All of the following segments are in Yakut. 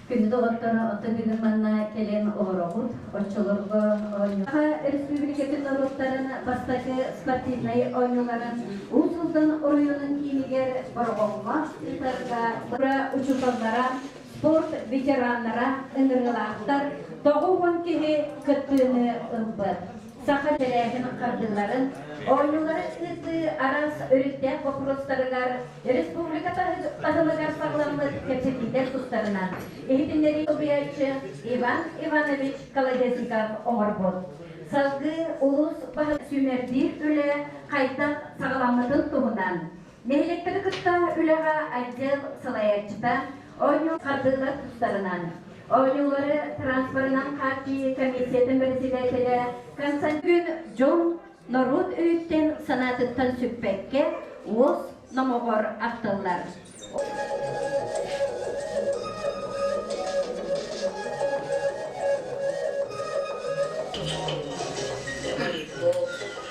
Күнү доҕотторо, оттон бүгүн манна кэлэн олороҕут. Оччолорго өрөспүүбүлүкэтин норуоттарын бастакы спортивнай оонньууларын Уус Алдан оройуонун киинигэр Бороҕоҥҥо ыытарга учууталлара, спорт ветераннара, ыҥырыылаахтар тоҕу уон киһи кыттыыны ылбыт. Саха тэрээһин хардыыларын, оонньууларын ыытыы араас өрүттээх боппуруостарыгар, республика таһымыгар саҕаламмыт кэпсэтиилэр тустарынан иһитиннэрии солбуйааччы Иван Иванович Колодезников оҥорбут. Салгыы улуус баһылык сүүмэрдиир үлэ хайдах саҕаламмытын туһунан Нэһилиэктэри кытта үлэҕэ отдел салайааччыта Оонньуу хардыылар тустарынан, Оонньуулары транспорынан хааччыйыы комиссиятын бэрэссэдээтэлэ Константин Дьун норуот өйүттэн санаатыттан сүппэккэ уос номоҕор ахтыллар.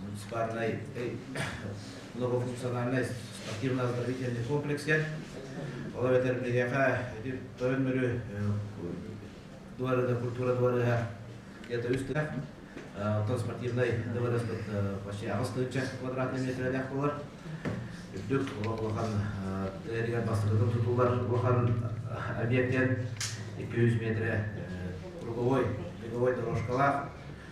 муниципальнай многофункциональнай спортивно-оздоровительный комплекстер ол эбэтэр биһиэхэ ити тойон мөрү дуарыга культура дуарыга это үстэх оттон спортивнай дуарыспыт почти аҕыс тыынча квадратный метрдээх болар үрдүк олох улахан эригэр бастатытын тутулар улахан объектен 200 метрэ круговой беговой дорожкалаах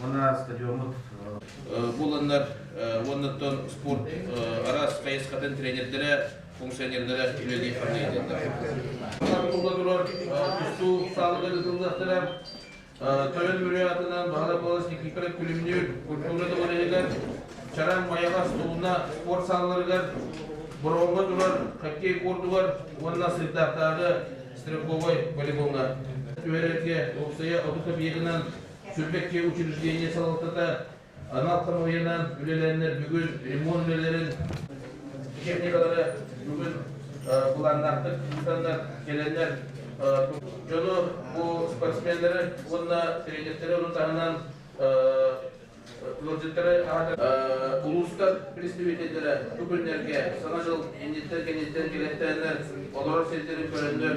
уонна стадиоммут буланнар уоннаттан спорт араас хайысхатын тренердэрэ функционердара үлэлии арнайытыннар тула турар тустуу саалыгар ыытыллыахтара тойон мүрү атынан баһара болос никифора күлүмнүүр культура дыбарыһыгар чараң майалас тулуна спорт саалыларыгар бороҥго турар хоккей куордугар уонна сырдаахтааҕы строковой волейболга түһэрэргэ уопсайа отут объегынан Сүлбэккэ учреждение салалтата анал хамыыһыйанан үлэлэннэр бүгүн ремонт үлэлэрин техникалары бүгүн былааннаахтык ыытаннар кэлэннэр дьону бу спортсменнары уонна тренердeri орун таһынан ыалдьыттары аһатар улуустар представителлэрэ бу күннэргэ саҥа дьыл инниттэн кэнниттэн кэлэктэннэр олорор сирдэрин көрөннөр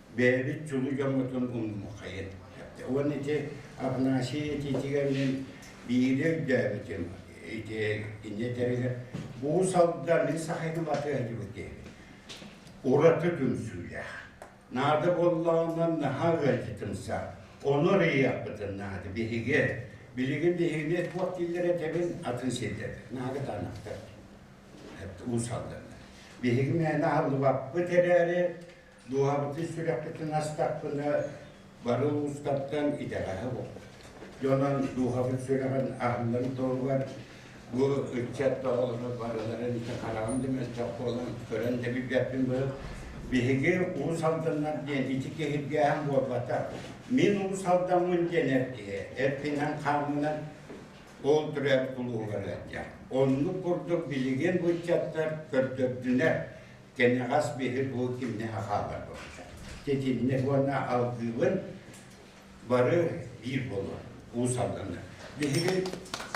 бэйэбит чулуу дьоммутун умнумахайын уонна ити Афанасий титигэринэн биири өйдөөбүтүм ити инньэ тэригэр бу салда мин сахайга батыһдыбыты ураты түмсүүлээх наада боллаҕынан наһаа ыалдьытымса ону рыйахпытын наада биһиги билигин биһигини туох дииллэрэ тэбин атын сирдэр наада танахтар уусалданна биһиги мээнэ аһыллыбаппыт эрээри Дууһабытын сүрэхпитин астахпына, бары улуустартан итэҕэһэ буолар. Дьонон дууһабыт сүрэҕин аһыннын туһугар бу ыччат оҕолоро барыларын ити хараҕым да мөлтөх буолан көрөн да билбэппин быһык биһиги уус алданнар диэн ити киһиргээһин буолбатах мин уус алдаммын диэн эр киһи эркинэн хааммынан ол түрэр улууһугар ыалдьар оннук курдук билигин бу ыччаттар көрдөрдүлэр кэнэҕэс биһир бу кимнэһэ хаалар буолта. Тэтимнэ уонна алгыыбын бары биир болуон Уус Алдаҥа. Биһиги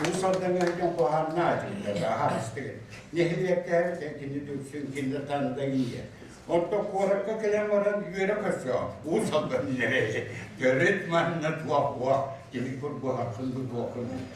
Уус Алдаҥаһыган хоһааннаатыгыта да аһаастыгын. Нэһилиэктээхтэн кини дүксүн кинде танда инде. Онтон куоракка кэлэн баран үөрэ көрсө Уус Алдан нэрэ төрүт манна туох уох тиһи курбуһахын бу туохын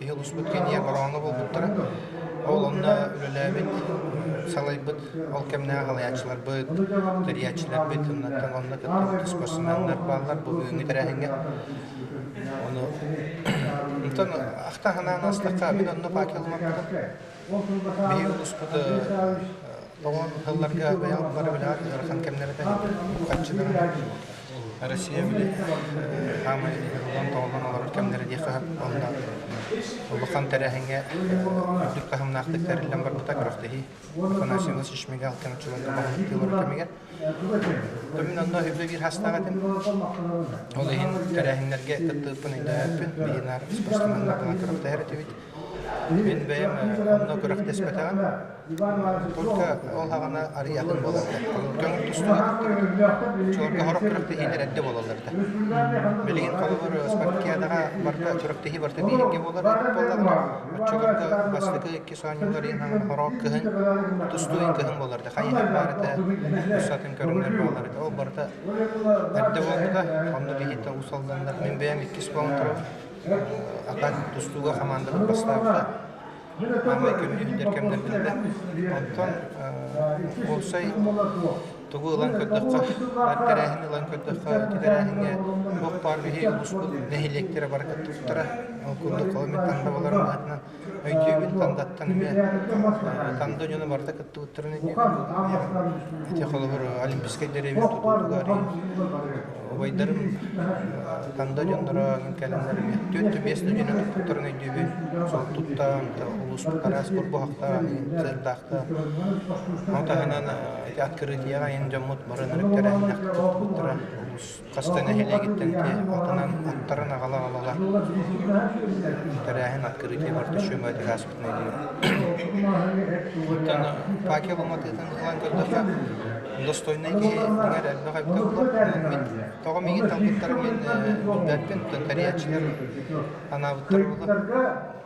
иһэлуспут кэнийэ бороҕоҥҥо буолбуттара. Ол онно үлэлээбит, салайбыт ол кэмнээх алаяччыларбыт, тэрийээччилэрбит, оннуттан онно кыттыбыт спортсменнар бааллар бу бүгүҥҥү тэрээһиҥҥэ. Ону ахта санаан астахха мин онно паакелламаппытым. Биһиги улууспут тоҕон тылларга бэйэҕит бары билэҕит ыарахан кэмнэритэ хаччыдара Россия били хаамай ылан тоҕунан олорор кэмнэрэ диэххэ онно улахан тэрээһиҥҥэ үрдүк таһымнаахтык тэриллэн барбыта күрэхтэһии Конасино Шишмега алтан чулан олорор кэмигэр Томин онно үбэ биир хастаах этим ол иһин тэрээһиннэргэ кыттыыппын өйдөөппүн биһинаар спортсменнарга күрэхтэһэр этибит Мин бэйэм онно күрэхтэспэтэҕим. Только ол хаҕана арыйатын буоларда. Көҥүл тустубат. Чуорга хорох күрэхтэһиилэр эрдэ буолалларда. Билигин холобур спорткиадаҕа барда күрэхтэһии барта биһиргэ буолар буоллаҕына, оччолорго бастакы иккис оонньуулар иһин хорох кыһын, тустуу кыһын буоларда. Хайыһар баар этэ, устатын көрүнэр буолар этэ. Ол барыта эрдэ буолбута. Онно биһиттэн усалланнар. Мин бэйэм иккис буолан турар. Ахан тустууга хамаандабыт бастаабыта. Маамай көмүһүттэр кэмнэрбитинэн. Оттон уопсай тугу ылан көрдөххө, баар тэрээһин ылан көрдөххө, ити тэрээһиҥҥэ туох баар биһи муспут нэһилиэктэрэ бара кыттыбыттара. Ол курдук, ол мин тандабаларым аатынан Өйдүүбүн Тандаттан эмиэ. Танда дьоно барыта кыттыбыттарын иннинэ. Ити холобур Олимпийскай деревья тутуутугар убайдарым Танда дьонноро кэлэннэр эмиэ түөрт биэс да дьону туппуттарын өйдүүбүн. Сол туттаан улууспут араас бурбуһахтаах, сыырдаахтаах. Ол таһынан ити открытияҕа айан дьоммут баран өрүттэрэ кыттыбыттара улуус хас да нэһилиэгиттэн киһи атынан аттарын аҕала аҕалала тэрээһин открытие Бартачума этиһэ ааспытын Оттон Пакел Алматыытын ылан көрдөхө достойнай киһи дьиҥэр элбэх элбэх Мин тоҕом игин талбыттар мин билбэппин, оттон тэрийээччилэр анаабыттар буолар.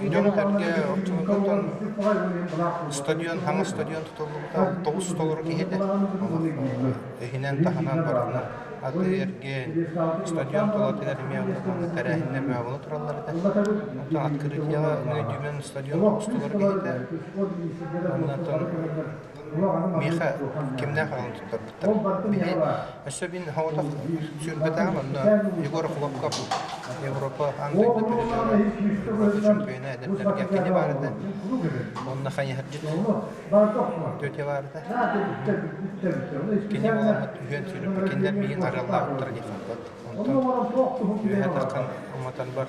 Дьон-сэргэ оччотооҕутан ыстадион, хаҥас ыстадион тутуллубута тоҕус толору киһи этэ. Иһинэн таһынан барытынан аты эргиэн, ыстадион толору тэнэр эмиэ тэрээһиннэр мөҕүллэ тураллар этэ. Оттон открытияҕа Найдүмэн ыстадион тоҕус толору киһи этэ. Оннуттан миэхэ кимнээх аҕаны туттарбыттар. Били, өссө мин соҕотох сүүрбэтэҕим онно Егор Хлопков Европа аан дойду передела ураты чемпиона эдэрдэргэ кини баар этэ. Онно хайыһардьыт тетя баар этэ. Кини буоламмыт үһүөн сүүрүппүт кинилэр миигин араллаабыттара диэхаппыт. Онтон үөһэ таххан уматан бар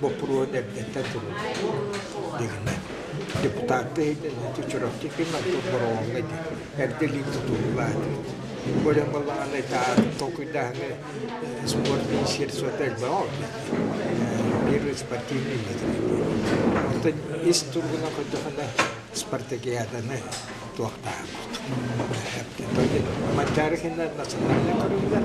боппуруос эрдэттэн суруллубут дигинэ депутаттар иһитиннэрии Чурапчы Ким Артур Боруоҥҥа эрдэлиин тутуллубат. Бу эрэн балаҕаны таар толкуйдаһаны спортный серсота элбэҕэ биир спортивный Оттон ис туругуна көтөхүнэ спартакиаданы туохтаах. Мандары хиннэр национальный көрүллэр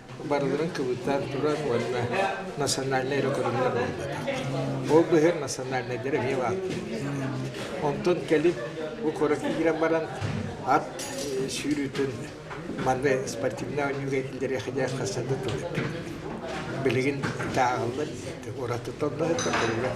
барыларын кыбытан турар уонна национальнай эрэ көрүҥнэр буолбатах. Ол быһыыр национальнайдар эмиэ бааллар. Онтон кэлин бу куоракка киирэн баран ат сүүрүүтүн манны спортивнай оонньууга киллэриэхидиэх хастардан тылыттар. Билигин тааҕыллар уратыттан да көрүллэр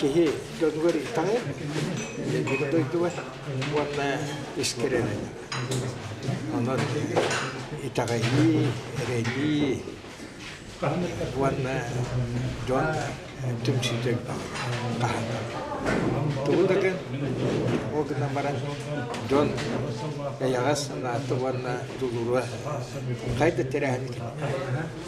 киһи дойдугар ирдэҕэ, биир дойдугар уонна искирэлэнэрэ. Онон итэҕэйии, эрэйии уонна дьон түмсүүтэ хаһанар. Тугу да гын, ол гынан баран дьон эйэҕэс санаата уонна дулуруа хай да тирэһин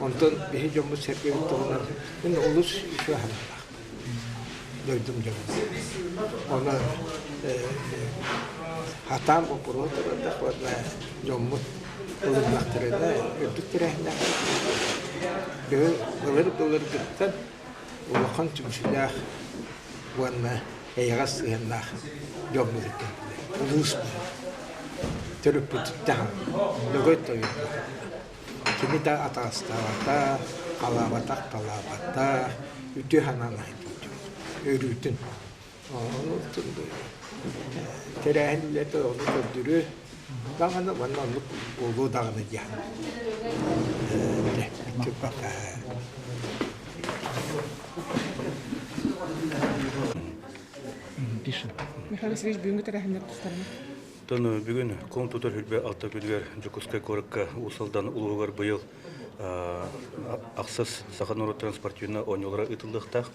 Онтон биһи дьоммут-сэргэбит туһунан мин олус үтүө санаалаахпын. Дойдум дьонум. Ону хатаан боппуруон турандахпытына дьоммут ылыннахтарына үрдүк тэрээһиннээхтик бүгүн ылырык-ылырыгыттан улахан түмсүүлээх уонна эйэҕэс сыһыаннаах дьоммут кэллилэр. Улуус төрүппүтүттэн Ногой тойук Кини да атаастаабата, халаабата-хапалаабата, үтүө-санаан иһитиитин, өрүүтүн. Тэрээһин үлэтэ ону көрдөрү даҕаны уонна оннук буолуо даҕаны диэн пока Михаил Васильевич бүгүҥҥү тэрээһиннэр тустарына Оттон бүгүн куҥ тутар хүрбэ ортопедыгар Дьокуускай куоракка Уус Алдан улууһугар быйыл ахсыс саха норуоттарын спортивнай оонньуулара ыытыллыахтаах.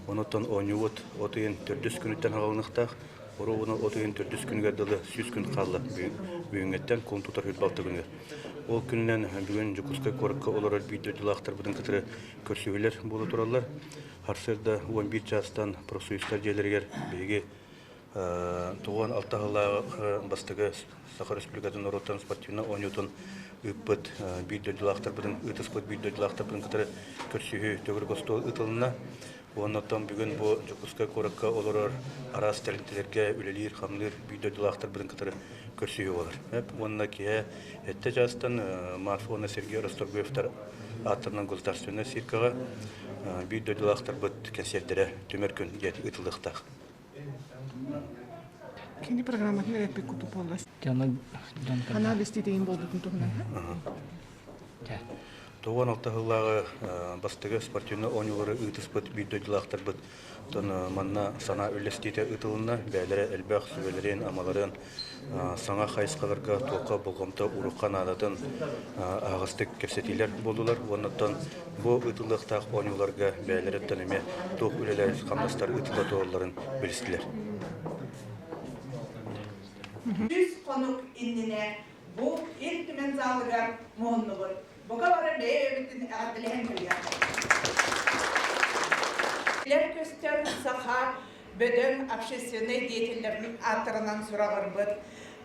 Онуттан оонньуубут от ыйын төрдүс күнүттэн аҕалыныахтаах. Оруобуна от ыйын төрдүс күнүгэр дылы сүүс күн хаалла бүгүҥҥэттэн куҥ тутар хүрбэ алта күнү. Ол күнүнэн бүгүн Дьокуускай куоракка олорор биир дьылаахтарбытын кытары көрсүһүүлэр буола тураллар. Харсыарда уон биир чаастан профсоюзтар дьиэлэригэр биһиги Туган алтаһылааҕы бастакы Саха Республикатын норуоттан спортивнай оонньуутун ыыппыт биир дойдулаахтарбытын ыытыспыт биир дойдулаахтарбытын кытары көрсүһүү төгүрүк остуол ыытылынна. Уонна оттон бүгүн бу Дьокуускай куоракка олорор араас тэрилтэлэргэ үлэлиир, хамныыр биир дойдулаахтарбытын кытары көрсүһүү буолар. Уонна киһи эттэ чаастан Марс уонна Сергей Расторгуевтар ааттарынан государственнай сиркаҕа биир дойдулаахтарбыт кэнсиэрдэрэ түмэр күн диэн ыытылыахтаах. Кини программатын эрэппит куту буолла. Ханаа бэстиитейин буолбутун туһунан. Тоҕуан алта сыллааҕы бастыгы спортивный оонньуулары ыытыспыт биир дойдулаахтарбыт манна санаа үллэстиитэ ыытылынна. Бээлэрэ элбэх сүбэлэрин, амаларын саҥа хайысхаларга туохха болҕомто урукка наадатын аһаҕастык кэпсэтиилэр буоллулар уоннаттан бу ыытыллыахтаах оонньууларга бэйэлэриттэн эмиэ туох үлэлэр хамнастар ыытылла туолалларын билистилэр. Үс хонук иннинэ бу Ил Түмэн заалагар муһуннубут. Бука барар бэйэ-өйөбүттэн эҕэрдэлэһэн көрүөхпүт. Көстөр саха бөдөҥ общественнай деятеллэрбин ааттарынан сураҕырбыт.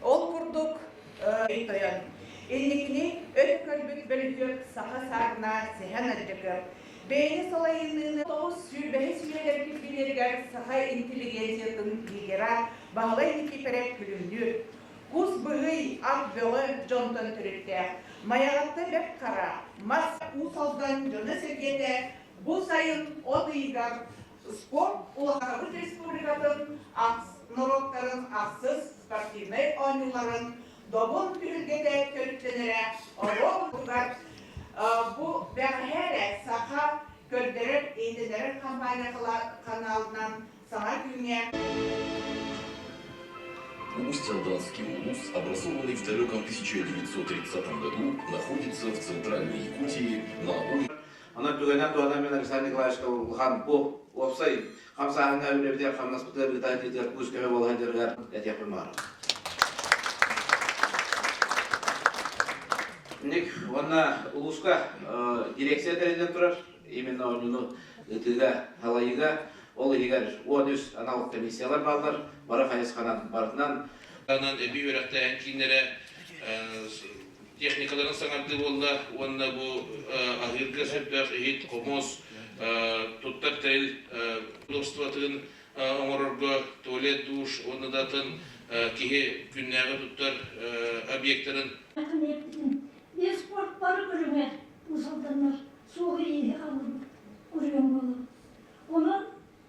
Ол курдук, тойон инникини өр көрбүт бөлүһүөк саха саарына Сэһэн Адьдьакыап бэйэни салайынныыны тоҕус сүүрбэһис үйэлэр кирбиилэригэр саха интеллигенциятын лидера Баһылай Никипэрэ күлүмнүүр. Кус быһый, ат бөҕө дьонтон төрүттээх, Майаҕатта бэрт хара, мас, Уус Алдан дьоно-сэргэтэ бу сайын от ыйыгар Спорт Улахан-Абыт республикатын ахс норуоттарын ахсыс спортивнай оонньууларын Добун түһүлгэтэ төрүттэнэрэ оруобутугар бу бэҕэһээ эрэ саха көрдөрөр-иһитиннэрэр хампаанньа каналынан саҥа күҥҥэ Усть-Рожденский улус, образованный в далеком 1930 году, находится в центральной Якутии на Онон бүгүнэ туһанан мин Александр Николаевич Улханпу уопсай хамсааһыҥҥа үлэбитигэр хамнаспыт ыарыыта тиитигэр куус көмө буолан дьарыгар этиэхпин баара. Инник уонна улууска дирекция тэриллэн турар, именно оонньууну ыытыыга, халайыыга, ол иһигэр он үс анал комиссиялар бааллар, бары хайысханан барытынан. Анан эбии үөрэхтээһин кииннэрэ техникаларын саҥардыы буолла уонна бу аһыырга сэрбэх иһит, хомуос, туттар тэл удобствотын оҥорорго туалет душ уонна да атын киһи күннээҕи туттар объектарын спорттары көрүҥэр усалданар суох ииһи алыбыт курьем буолар. Онон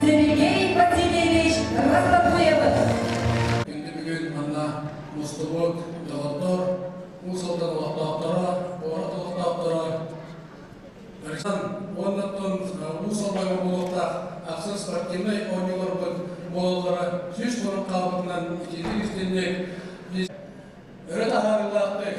Сергей Васильевич Рахатуевич. Бүгүн бүгүн манна мустубут доҕоттор, уу сылдан олохтоохторо, буорат олохтоохторо, уонна уу сылбайга буолуохтаах ахсын спортивнай оонньууларбыт буолаллара сүүс хорун хаалбытынан итинник истинник өрө таһаарыылаахтык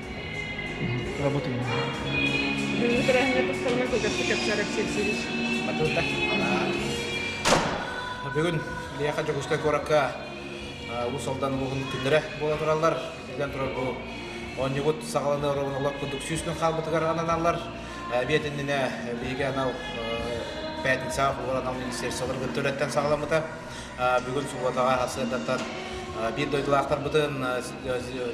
работаю на тренинге постоянно кылгастык кэпсээрэр сирсириз матылда бүгүн Лиаха Дьокуускай куоракка Улус Алдан улууһун күннэрэ буола тураллар итинэн турар бу оонньугут саҕаланы оробун олох курдук сүүстүн хаалбытыгар ананаллар эбиэт иннинэ биһиги анал пятницаҕа улур анал министерстволар кытта үлэттэн саҕаламмыта бүгүн субуотаҕа сыардатан биир дойдулаахтарбытын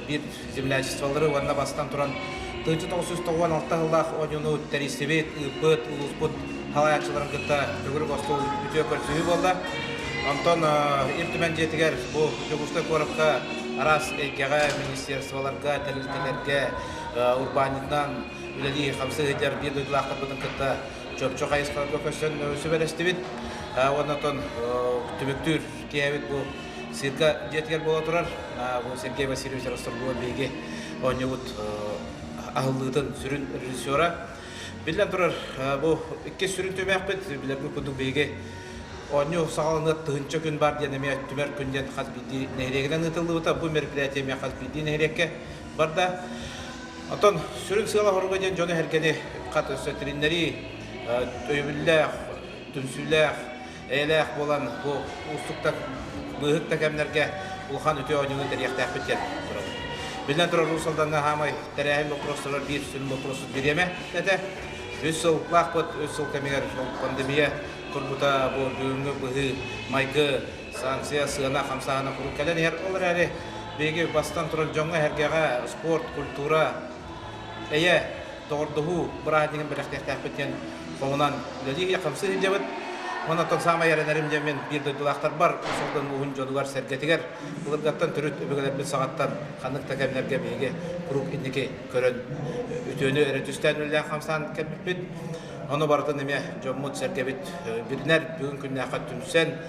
биир землячестволары уонна бастан туран тыынча тоҕус сүүс тоҕуон алта сыллаах оонньууну тэрийсибит, ыыппыт, улууспут салайааччыларын кытта төгүрүк остуол үтүө көрсүһүү буолла. Онтон Ил Түмэн дьиэтигэр бу Дьокуускай куоракка араас эйгэҕэ, министерстволарга, тэрилтэлэргэ урбаанньытынан үлэлии хамсыы сылдьар биир дойдулаахтарбытын кытта чопчу хайысхаҕа көсөн сүбэлэстибит уонна отон түбүктүүр тиээбит бу сирка дьиэтигэр буола турар бу Сергей Васильевич Ростовгова биһиги оонньуубут аһыллыытын сүрүн режиссера биллэн турар бу иккис сүрүн түмээхпит билэрбит курдук биһиги оонньуу саҕаланыа тыһынча күн баар диэн эмиэ түмэр күн диэн хас биирдии нэһилиэгинэн ыытыллыбыта бу мероприятие эмиэ хас биирдии нэһилиэккэ барда. Оттон сүрүн сыала-соруга диэн дьон эһэргэни хат өссө тириннэрии, өйөбүллээх, түмсүүлээх, эйэлээх буолан бу уустуктар быыһык да кэмнэргэ улахан үтүө оонньууну тэрийэхтээхпит диэн турабын. Биллэн турар, Уус Алдаҥҥа хаамай тэрээһин боппуруостарыгар биир сүрүн боппуруосту бириэмэ этэ. Үс сыл лаахпыт, үс сыл кэмигэр ол пандемия турбута бу бүгүҥҥү быһыы-майгы Санкция сыана хамсааһына куруук кэлэн иһэр. Ол эрээри биһиги бастан турар дьоҥҥо, эһэргэҕэ спорт, культура, эйэ, доҕордоһуу бырааһынньыгын бэлэхтиэхтээхпит диэн хоһунан үлэлии хамсыы сылдьабыт. Онон саамай эрэнэрим дьэ мин биир дойдулаахтарбар Усолдон мууһун дьонугар сэргэтигэр былыргаттан төрүт өбүгэлэрбит саҕаттан ханнык да кэмнэргэ биһиги куруук инники көрөн үтүөнү эрэ түстээн үлэлээх хамсаан кэлбиппит. Ону барытын эмиэ дьоммут сэргэбит бүрүнэр бүгүн күннээххэ түмсэн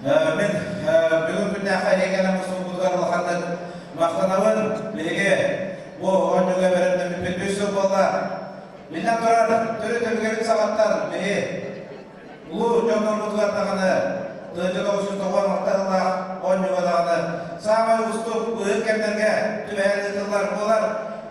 Мин бүгүн күннээххэ эһиги кэлэн мусулбутугар улаханнык махтанабын. Биһиги бу оонньууга бэриллэммиппит үс сыл буолла. Биллэн турар, төрүт-өбүгэрин саҕаттан биһи улуу дьоннорбутугар даҕаны дойдуга учууталлар махталлаах оонньууга даҕаны саамай уустук быһыт кэмнэргэ түбэһэн ыытыллар буолар.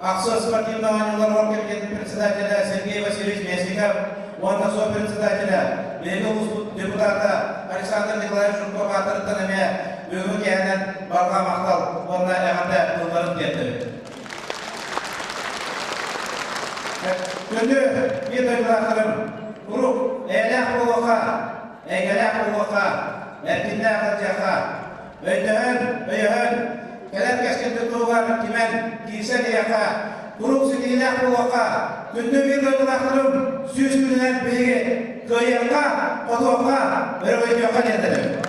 Ахсыс спортивнай оонньууларыгар кэлген председателэ Сергей Васильевич Местников уонна сопредседателэ, биһиги улууспут депутата Александр Николаевич Жуков аатырыттан эмиэ бүгүҥҥү кэһэнэн барҕа махтал уонна эҕэрдэ тылларын тиэрдэбит. Күндү биир дойдулаахтарым, куруук эйэлээх буолуохха, эйгэлээх буолуохха, эркиннээх ыалдьыахха, өйдөһөн, өйөһөн, кэлэр кэскилгэ туһугар түмэн, киирсэн иһиэххэ, куруук ситиһиилээх буолуохха, күндү биир дойдулаахтарым сүүс күнүнэн биһиги кыайыахха, хотуохха, өрөгөйдүөххэ диэн этэбин.